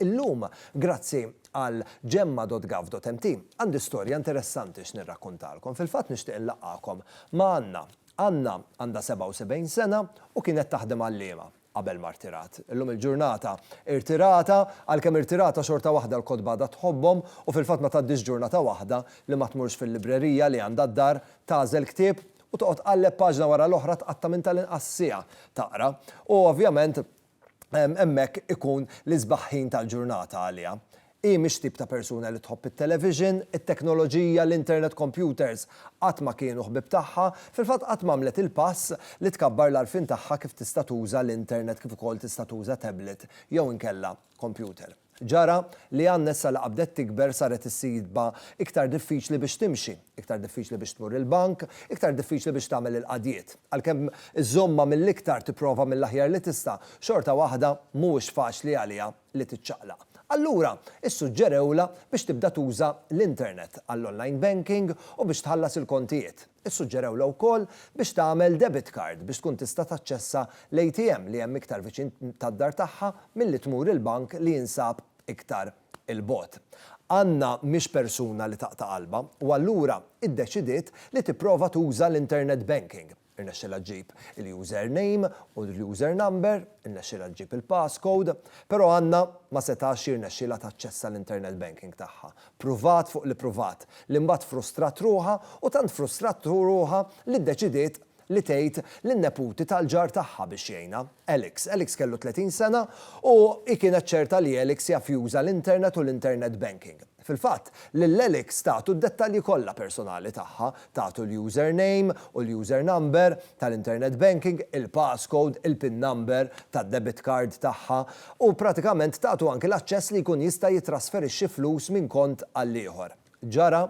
Illum, grazzi għal gemma.gov.mt, għandi storja interessanti x'nirrakkuntalkom. Fil-fatt nixtieq inlaqqagħkom ma' Anna. Anna għandha 77 sena u kienet taħdem għalliema. qabel ma rtirat. Illum il-ġurnata irtirata, għalkemm irtirata xorta waħda l-kotba għadha tħobbhom u fil-fatt ma tgħaddix ġurnata waħda li ma tmurx fil-librerija li għandha d-dar, tagħżel ktieb u toqgħod tqalleb paġna wara l-oħra tqatta' minn tal-inqas siegħa taqra. U ovvjament hemmhekk ikun l-isbaħ ħin tal-ġurnata għaliha. Hi mhix tip ta' persuna li tħobb it-television, it-teknoloġija, l-internet kompjuters. Qatt ma kienu ħbieb tagħha. Fil-fatt qatt m'għamlet il-pass li tkabbar l-għarfien tagħha kif tista' tuża l-internet kif ukoll tista' tuża tablet jew inkella kompjuter. Ġara li għan nessa li qabdet tikber saret issibha iktar diffiċli biex timxi, iktar diffiċli biex tmur il-bank, iktar diffiċli biex tagħmel il-qadjiet. Għalkemm iżommha mill-iktar tipprova mill-aħjar li tista', xorta waħda mhuwiex faċli għaliha. li tiċċaqlaq. Allura, issuġġerewlha biex tibda tuża l-internet għall-online banking u biex tħallas il-kontijiet. Issuġġerewlha wkoll biex tagħmel debit card biex tkun tista' taċċessa l-ATM li hemm iktar viċin tad-dar tagħha milli tmur il-bank li jinsab iktar 'il bogħod. Anna mhix persuna li taqta' qalbha u allura iddeċidiet li tipprova tuża l-internet banking. irnexxielha ġġib il-user name u l-user number, irnexxielha ġġib il-pass code, però Anna ma setax jirnexxielha taċċessa l-internet banking tagħha. Pruvat fuq li pruvat, li mbagħad frustrat ruħha u tant frustrat ruħha li ddeċidiet li tgħid lin-neputi tal-ġar tagħha biex jgħinha, Alex. Alex kellu 30 sena u hi kienet ċerta li Alex jaf juża l-internet u l-internet banking. Fil-fatt, lil Alex tagħtu d-dettalji kollha personali tagħha, tagħtu l-username u l-usernumber tal-internet banking, il-passcode, il-pin number tad-debit card tagħha, u pratikament tagħtu anki l-aċċess li jkun jista' jittrasferixxi flus minn kont għall-ieħor. Ġara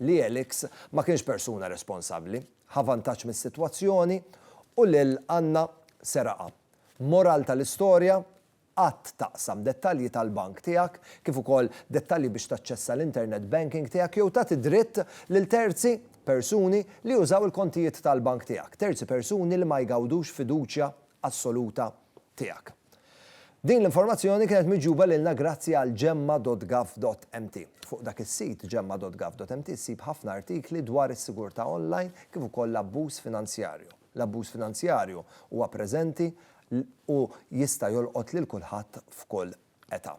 li Alex ma kienx persuna responsabbli, ħa vantaġġ mis-sitwazzjoni u lil Anna seraqha. Moral tal-istorja? Qatt taqsam dettalji tal-bank tiegħek, kif ukoll dettalji biex taċċessa l-internet banking tiegħek jew tagħti dritt lil terzi persuni li jużaw il-kontijiet tal-bank tiegħek, terzi persuni li ma jgawdux fiduċja assoluta tiegħek. Din l-informazzjoni kienet miġjuba lilna grazzi għal Gemma dot Gov dot mt. Fuq dak is-sit, Gemma dot Gov dot mt, ssib ħafna artikli dwar is-sigurtà online kif ukoll l-abbuż finanzjarju. L-abbuż finanzjarju huwa preżenti u jista' jolqot lil kulħadd f'kull età.